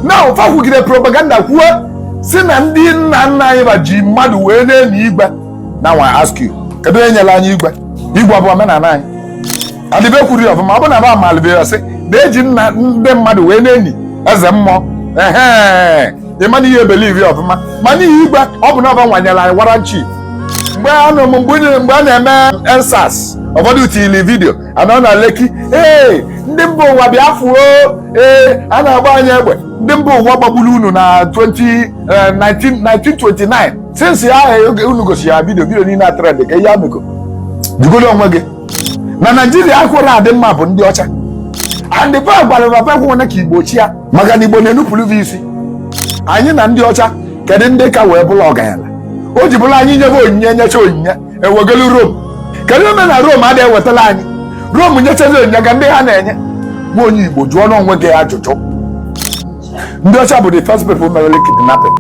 now fa kwugide propaganda kwuo sị na ndị nna nna anyị ba ji mmadụ wee na-eni igwe now i ask you kedu onye nyere anyị igwe igwe ọ bụ omenala anyị adịbe kwuru ya ọfụma ọ bụ na ba malịbe ya sị na e ji nna ndị mmadụ wee na-eni eze mmụọ ehe ị ma na ihe believe ya ọfụma ma n'ihi igwe ọ bụ na ọ ba nwa nyere anyị warrant chief mgbe a nọ m mgbe a na-eme endsars ụfọdụ tili vidio a nọ na lekki ee ndị mba ụwa bịa fụ o ee a na-agba anyị egbe ndị mba ụwa gbagburu unu na 20 eh, 19 1929 since ya ahụ oge unu gosiri ya vidio vidio niile atrendị ka ihe amịgo ị jụgoro onwe gị na naijiria akwụrụ adị mma bụ ndị ọcha and ba gwara ba ba ekwena ka igbo chịa maka na igbo na-enupụrụ ba isi anyị na ndị ọcha kedu ndị ka wee bụrụ ọgaranya o ji bụrụ anyị nyebe onyinye nyecha onyinye e wegolu rome kedu ihe mere na rome adị ewetala anyị rome nyechazi onyinye ka ndị ha na-enye nwa onye igbo jụọ onwe gị ajụjụ ndị ọcha bụ the first people merele kidnapping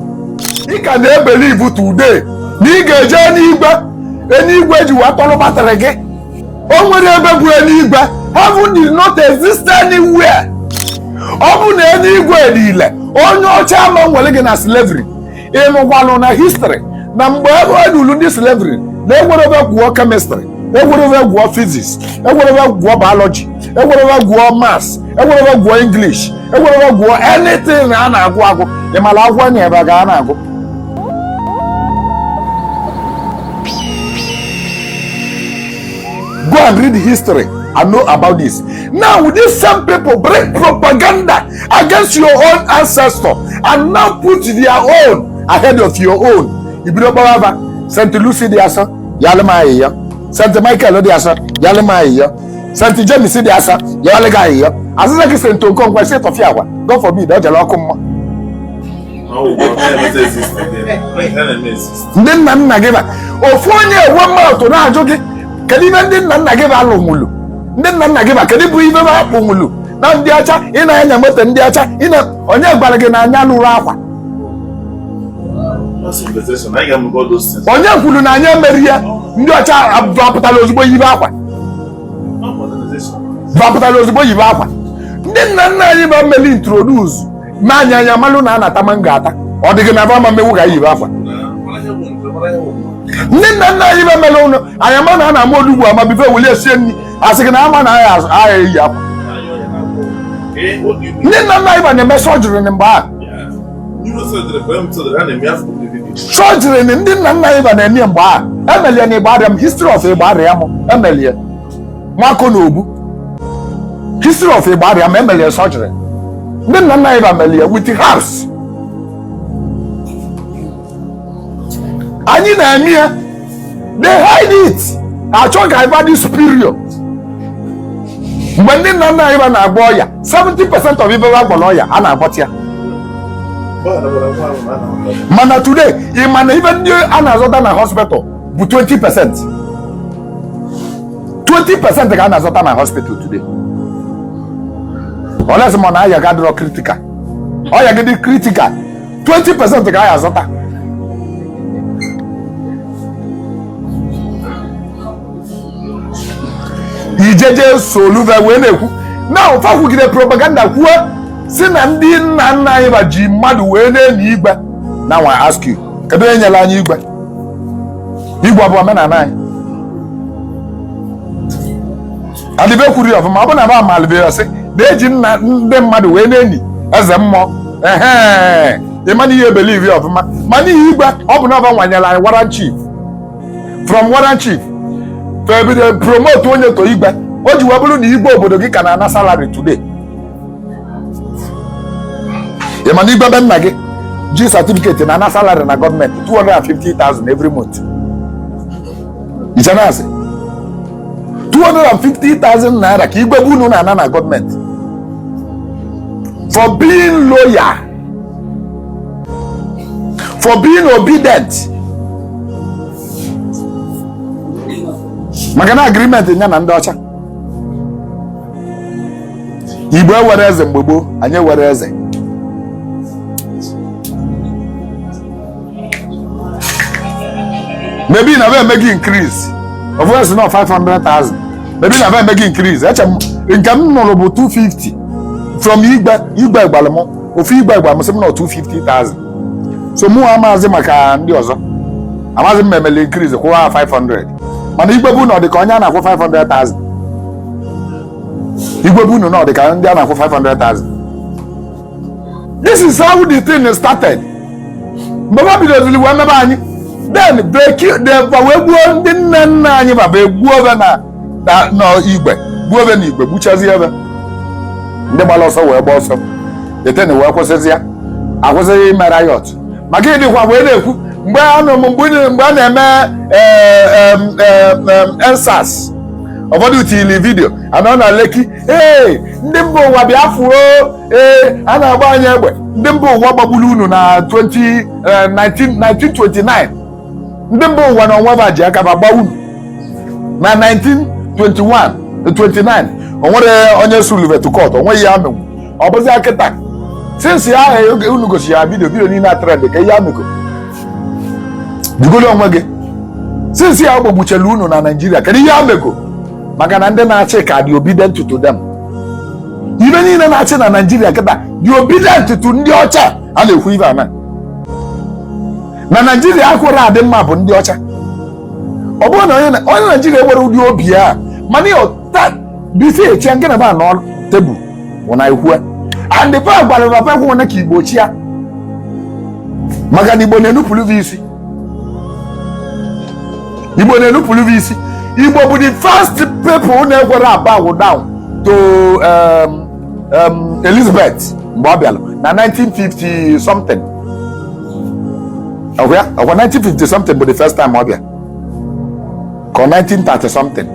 ị ka na-ebelieve today na ị ga-eje eluigwe eluigwe e ji wee kpọrọ batrị gị o nwere ebe bụ eluigwe heaven did not exist anywhere ọ bụ na eluigwe dịlị onye ọcha ama nwere gị na slavery ị nụkwalụ na history na mgbe ebe e dulu ndị slavery na e gwere ba gụọ chemistry e gwere ba gụọ physics e gwere ba gụọ biology e gwere ba gụọ maths e gwere ba gụọ english e gwere ba gụọ anything a na-agụ agụ ị mara akwụkwọ nya ebe ga a na-agụ go and read history and know about this now these same people bring propaganda against your own ancestor and now put their own ahead of your own i bido kpọba st lucy dị asọ yọlụ m ayịyọ st michael dị asọ yọlụ m ayịyọ st james dị asọ yọlụ gị ayịyọ a sịzia gị st okonkwo ị sị tụfịakwa god forbid o jere ọkụ mmụọ ndị nna nna gị ba ofu onye ewe mmaụtụ na-ajụ gị kedu ife ndị nna nna gị ba lụnwulu ndị nna nna gị ba kedu bụ ife ba kpụnwulu na ndị ọcha ị na-anya moto ndị ọcha ị na onye gwara gị na anyị alụrọ akwa onye kwuru na anyị emerọ ya ndị ọcha ba pụtara ozugbo yibe akwa ba pụtara ozugbo yibe akwa ndị nna nna anyị ba meli introduce naanị anyị amalụ na a na-ata mango ata ọ dị gị na ba ama emenwu ka e yibe akwa ndị nna nna anyị ba melụ anyị ma na a na-ama olugbu ama before e weli e sie nri a sị gị na ama na a ga a ga-eyi akwa ndị nna nna anyị ba na-eme surgery na mgbe ahụ surgery ndị nna nna anyị ba na-eme mgbe ahụ e meli e na igbariam history of igbariam e meli e nwako na ogbu history of igba arịa ma emeli ya surgery ndị nna nna anyị ba meli ya with herbs anyị na-eme ya they hide it achọ ka anyị dị superior mgbe ndị nna nna anyị ba na-agwọ ọya 70 percent of ibe a gwọrọ ọya a na-agwọta ya mana today ị ma na ibe ndị a na-azọta na hospital bụ 20 percent 20 percent ka a na-azọta na hospital today unless ma na ọya gị adịrọ critical ọya gị dị critical 20 percent ka a ya azọta ị jeje solu ve wee na-ekwu na fa kwugide propaganda kwuo sị na ndị nna nna anyị ba ji mmadụ wee na-eni igwe now I ask you kedu onye nyere anyị igwe igwe bụ omenala anyị adibe kwuru ya ọfụma ọ bụ na ba ma alibe ya sị na e ji ndị mmadụ wee na-eni eze mmụọ ehe ị ma na ị ya-ebelieve ọfụma mana igwe ọ bụ na ọ ba nwa nyere anyị warrant chief from warrant chief to e bido promote onye to igwe o ji wee bụrụ na igwe obodo gị ka na-ana salary today ị ma na igwe be nna gị ji certificate na-ana salary na gọọmenti 250,000 every month i che na asị 250,000 naira ka igwe be unu na-ana na gọọmenti for being loyal for being obedient maka na agreement ya na ndị ọcha igbo enwerọ eze mgbe gboo anyị enwerọ eze maybe na be emego increase of course not 500,000 maybe na be emego increase eche m nke m nụrụ bụ 250 from igwe igwe gwara m ofu igwe gwara m sị m na 250,000 so mụ amaazị maka ndị ọzọ amaazị m ma e mele increase kwụwa 500 mana igwe be unu ọ dị ka onye a na-akwụ 500,000 igwe be unu na ọ dị ka ndị a na-akwụ 500,000 this is how the thing started mgbe ha bidoziri wee mebe anyị then bekideba wee gbuo ndị nne nna anyị ba ba egbue be na na- na igwe gbue be na igwe gbuchazie be ndị gbara ọsọ wee gba ọsọ eteni wee kwụsịzi ya akwụsịghị ime riot maka ịdịkwa wee na-ekwu mgbe a nọ- mgbe a na-eme eh, em, em, em, EndSARS ụfọdụ tiri vidio a nọ na Lekki ee ndị mba ụwa bịa fụọ ee a na-agba anyị egbe ndị mba ụwa gbagburu unu na 20, eh, 19 1929 ndị mba ụwa na onwe ba ji aka ba gba unu na 1921 29 o nwere onye suru ve to court o nweghị ya menwu ọ bụzi akịta since aha oge unu gosiri ya vidio vidio niile a trend ka ihe amego jụgolo onwe gị since ya gbagbuchala unu na naijiria kedu ihe amego maka na ndị na-achị ka dị obedient to them ibe niile na-achị na naijiria kịta dị obedient to ndị ọcha a na-ekwu ibe ana na naijiria akwụrụ adị mma bụ ndị ọcha ọ bụrụ na onye naijiria nwere ụdị obi a mana bisi echi nke na ba anọ table wee na-ekwu and the power gbara papa kwụ na ka igbo chịa maka na igbo na-enupulu ve isi igbo na-enupulu ve isi igbo bụ the first people na-ekwere a bow down to um, um, elizabeth mgbe ọ bịara na 1950 something ọkwa 1950 something bụ the first time ọ bịa ka 1930 something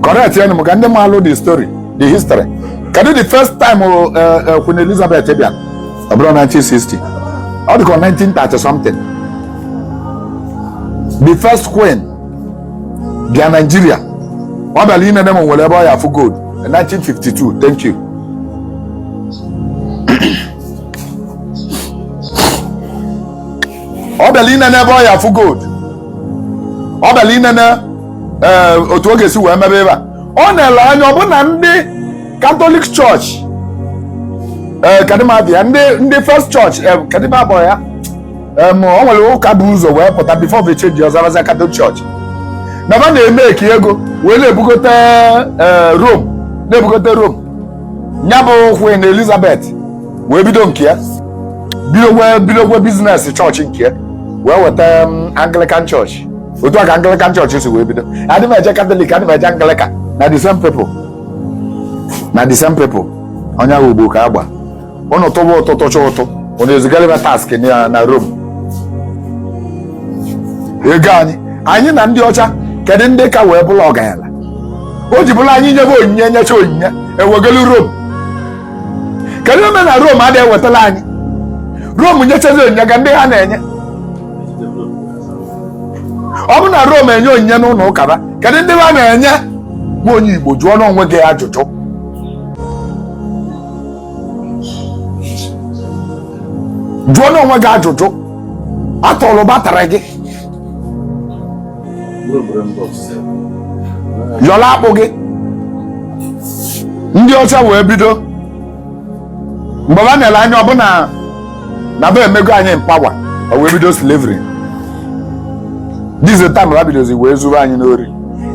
correct ya na m ka ndị maalụ the story the history kedu the first time uh, uh, Queen Elizabeth bịa ọ bụrọ 1960 ọ dịka 1930 something the first queen bịa Nigeria ọ bịara inene m nwere ebe ọ ya afụ gold 1952 thank you ọ bịara inene ebe ọ ya afụ gold ọ bịara inene ee otu ọ ga-esi wee mebe ebe a ọ na-ele anya ọ bụ na ndị katọlik chọọchị ee kadịma bịa ndị ndị first chọọchị ee kadịma bụ ya em o nwere ụka bụ ụzọ wee pụta before ba change ọ zara aza katọlik chọọchị na ba na-emeki ego wee na-ebugote ee Rome na-ebugote Rome ya bụ Queen Elizabeth wee bido nke ya bidokwe bidokwe business church nke ya wee weta um, Anglican Church otu a ka Anglican Church si wee bido adị m eje Katọlik adị m eje Anglican na the same people na the same people onye aghọgbu ka agba ụnụ tụba ụtụ tụcha ụtụ ụnụ ezigara ba tax na na Rome ego anyị anyị na ndị ọcha kedu ndị ka wee bụrụ ọgaranya o ji bụrụ anyị nyebe onyinye nyecha onyinye ewegolu Rome kedu o me na Rome adịghị ewetala anyị Rome nyechazi onyinye ka ndị ha na-enye ọ bụ na Rome enye onyinye n'ụlọ ụka ba kedu ndị ha na-enye nwa onye Igbo jụọnụ onwe gị ajụjụ jụọ nụ onwe gị ajụjụ atọlụ batrị gị yọla akpụ gị ndị ọcha wee bido mgbe ha na-ele anya ọbụna na be emego anyị pawa o wee bido slavery this time ha bidozi wee zuru anyị n'ori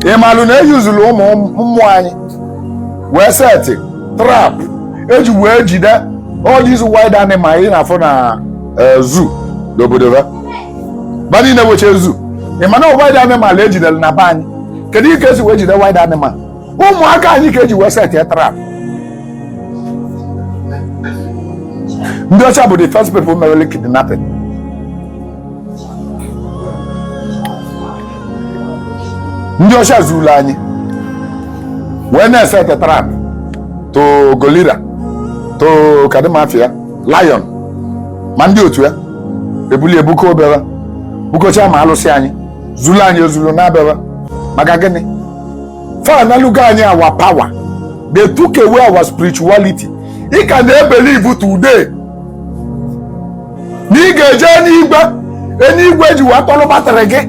ị malụ na ezuru ụmụ anyị wee set trap eji wee jide all these wild animal ị na-afụ na eh, zoo n'obodo ha ba niile nweche zoo ị ma na wild animal ejidere na be anyị kedu ka esi wee jide wild animal ụmụaka anyị ka eji wee set trap ndị ọcha bụ the first people melụ kidnapping ndị ọcha zuru anyị wee na-eset trap to gorilla to kadimafia lion ma ndị otu ya ebuli ebukọ be wee bukọcha ma alụsị anyị zuru anyị ezuru na-abịara maka gịnị fa analugo anyị our power they took away our spirituality ị ka na-ebelieve today na ị ga-eje eluigwe eluigwe eji wee tọrọ batrị gị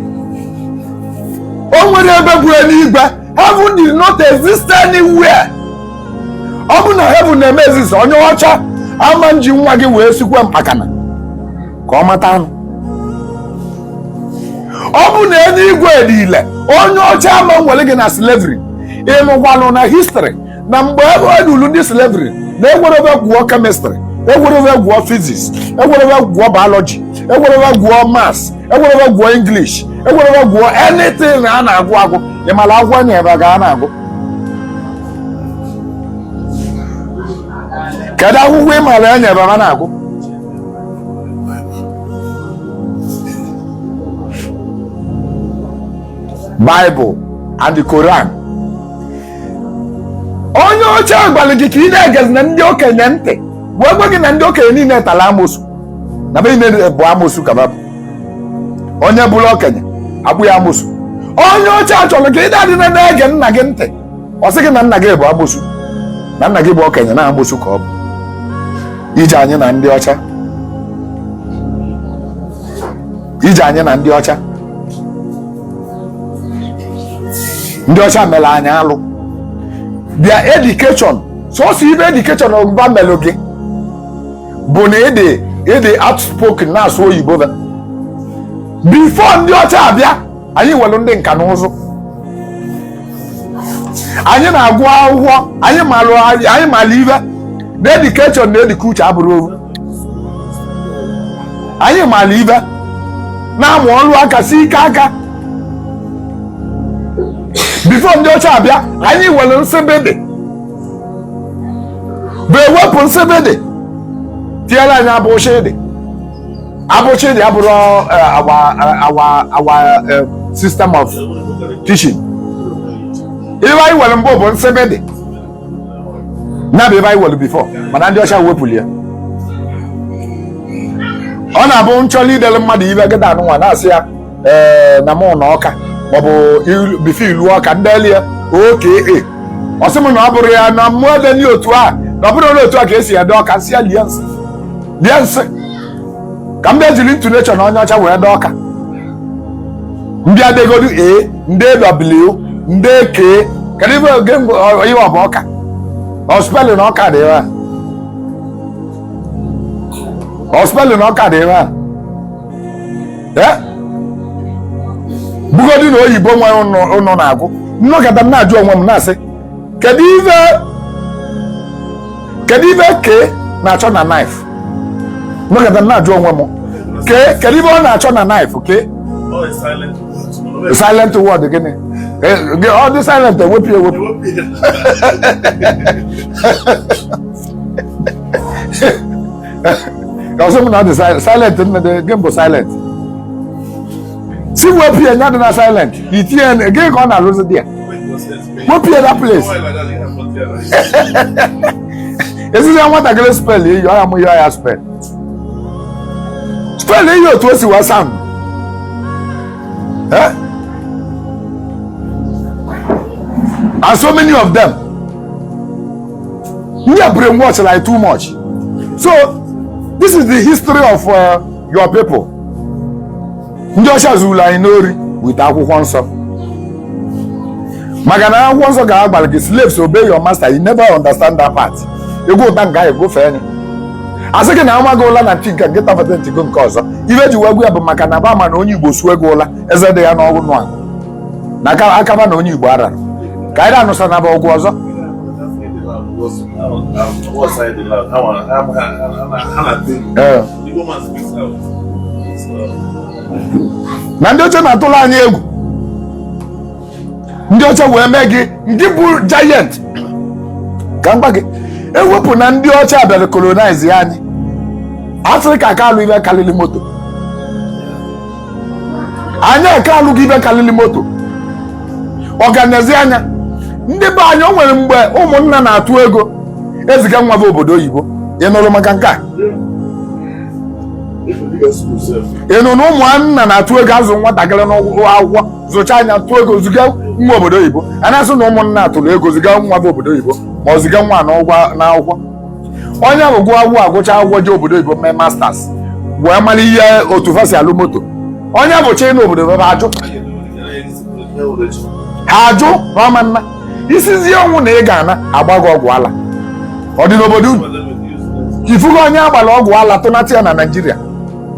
o nwere ebe bụ eluigwe heaven did not exist anywhere ọ bụ na heaven na-eme exist onye ọcha ama nji nwa gị wee sikwe mkpakana ka ọ mata anụ ọ bụ na eluigwe dị ile onye ọcha ama nwere gị na slavery ị nụkwalụ na history na mgbe ebe e duru ndị slavery na ekwerọ be gụọ chemistry ekwerọ be gụọ physics ekwerọ be gụọ biology ekwerọ be gụọ maths ekwerọ be gụọ English ekwerọ be gụọ anything a na-agụ agụ ị mara akwụkwọ enye be ka a na-agụ kedu akwụkwọ ị mara enye be a na-agụ Bible and the Quran onye ọcha gwara gị ka ị na-egezina ndị okenye ntị wee gwa gị na ndị okenye niile tara amosu na be niile bụ amosu ka ba bụ onye bụrụ okenye akpọ ya amosu onye ọcha achọrọ ka ị na-adị na na-ege nna gị ntị ọ sị gị na nna gị bụ amosu na nna gị bụ okenye na amosu ka ọ bụ ije anyị na ndị ọcha ije anyị na ndị ọcha ndị ọcha mere anyị alụ their education sọsọ ife education ba melụ gị bụ na ịdị outspoken na-asụ oyibo be before ndị ọcha abịa anyị nwere ndị nka na ụzụ anyị na-agụ akwụkwọ anyị malụ anyị malụ ibe na education na education abụrọ ovu anyị malụ ibe na-amụ ọrụ aka si ike aka before ndị ọcha abịa anyị nwere nsibidi ba ewepụ nsibidi tinyere anyị abịchịdị Abịchịdị abụrụ eh, our our our eh, system of teaching. Ibe anyị nwere mbụ bụ nsibidi. Nya bụ ibe anyị nwere before mana ndị ọcha wepụlụ ya. Ọ na-abụ m chọlụ idele mmadụ ibe gịda anụnwa na-asị ya ee na mụ na Ọka maọbụ ilu- before ilu Ọka ndị elie oke e ọ sị m na ọ bụrọ ya na mụ edena otu a na ọ bụrọ na otu a ka e si ede Ọka m sị ya lie nsị lie nsị ka m bịa jiri intonation onye ọcha wee dee Ọka ndị edegodu A ndị W ndị K kedu ibe oge mgbe ọ- ihe ọ bụ Ọka ọ spelling Ọka dị ebe a ọ spelling Ọka dị ebe a bụgodu na oyibo nwa ụnụ na-agụ nnọkata m na-ajụ onwe m na-asị kedu ife kedu ife K na-achọ na knife nnọkata m na-ajụ onwe m ke kedu ife ọ na-achọ na knife K silent word gịnị ọ dị silent ewepụ ewepụ ọ sị m na ọ dị silent nne dị gị mbụ silent si wepụ ya nya dị na silent itinye ya gịnị ka ọ na-arụzi dị ya wepụ ya that place ezizi ya nwatakịrị spell eyi ọ ya mụ ya spell spell eyi otu o si wee sound eh? and so many of them We are brainwashed like too much. So this is the history of uh, your people. Ndị ọcha zuru anyị n'ori with akwụkwọ nsọ. Maka na akwụkwọ nsọ ga-agwalị gị slaves obey your master you never understand that part. Egwu ụta nke anyị gofee anyị. A sị gị na a maa gị ụla na nchi nke nkịta fata nchi gị nke ọzọ. Ibe ji wee kwu ya bụ maka na ba ma na onye Igbo suo gị ụla eze dị ya n'ọnụ ala. na akaba na onye Igbo ara ka anyị na-anụsa na ba ọgụ ọzọ na ndị ọcha na-atụrụ anyị egwu ndị ọcha wee mee gị ngị bụ giant ka m gwa gị ewepụ na ndị ọcha bịara colonize anyị Africa ka alụ ibe kalịlị moto anyị aka-alụgo ife kalịlị moto ọganezi anya ndị be anyị o nwere mgbe ụmụnna na-atụ ego eziga nwa fa obodo oyibo ị nụrụ maka nke a ị nụ na ụmụnna na-atụ ego azụ nwatakịrị n'akwụkwọ zụchaa nya tụọ ego ziga nwa obodo oyibo a na-asị na ụmụnna tụrụ ego ziga nwa fa obodo oyibo ma ọ ziga nwa n'akwụkwọ onye ahụ gụọ akwụkwọ gụcha akwụkwọ jee obodo oyibo mee masters wee mara ihe otu fa si alụ moto onye ahụ chee ịna obodo be ha ajụ ha ajụ na ọ ma-ana i sizie ọnwụ na ị ga-ana agbaa gị ọgwụ ala ọ dị n'obodo unu ị fụgo onye a gbara ọgwụ ala tụnata ya na naijiria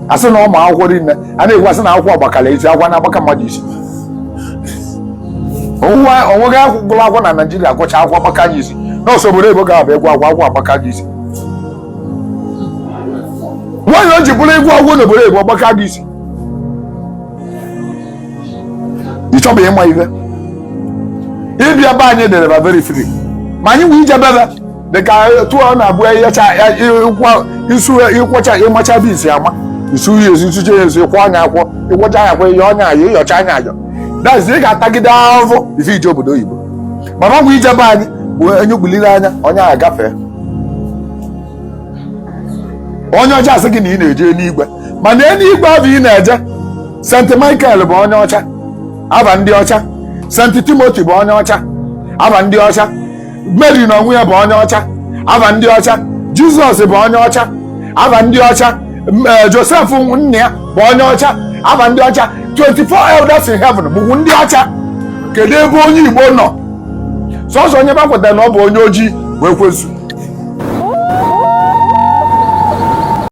asị na ụmụ akwụkwọ niile a na-ekwu asị na akwụkwọ agbakala isi akwụkwọ na-agbaka mmadụ isi onweghị akwụkwọ akwụkwọ na naijiria agụcha akwụkwọ agbaka gị isi nọọsụ obodo oyibo ga-abụ egwu agwụ akwụkwọ agbaka gị isi nwaanyị o ji bụrụ egwu agwụ n'obodo oyibo agbaka gị isi ị chọbụ ịma ihe ị bịa be anyị dere ba very free ma anyị wee ije bebe dịka etu ọ na-abụ eyecha ya ịkwa- isu ịkwọcha ịmacha bụ isi ama isu ya esi isuche ya esi kwọọ nya akwọ ị kwọcha nya akwọ ị yọọ nya ayọ ị yọcha nya ayọ dazi ị ga-atagide ahụhụ ife ije obodo oyibo mana ọ bụ ije be anyị bụ onye gbuliri anya onye a gafee onye ọcha asị gị na ị na-eje eluigwe mana eluigwe ahụ ị na-eje st michael bụ onye ọcha aba ndị ọcha st timoti bụ onye ọcha aba ndị ọcha meri n'onwe ya bụ onye ọcha aba ndị ọcha jizọs bụ onye ọcha aba ndị ọcha e, josef nna ya bụ onye ọcha aba ndị ọcha 24 elders in heaven bụkwu ndị ọcha kedu ebe onye igbo nọ sọsọ onye fa kwetara na ọ bụ onye ojii bụ ekwensu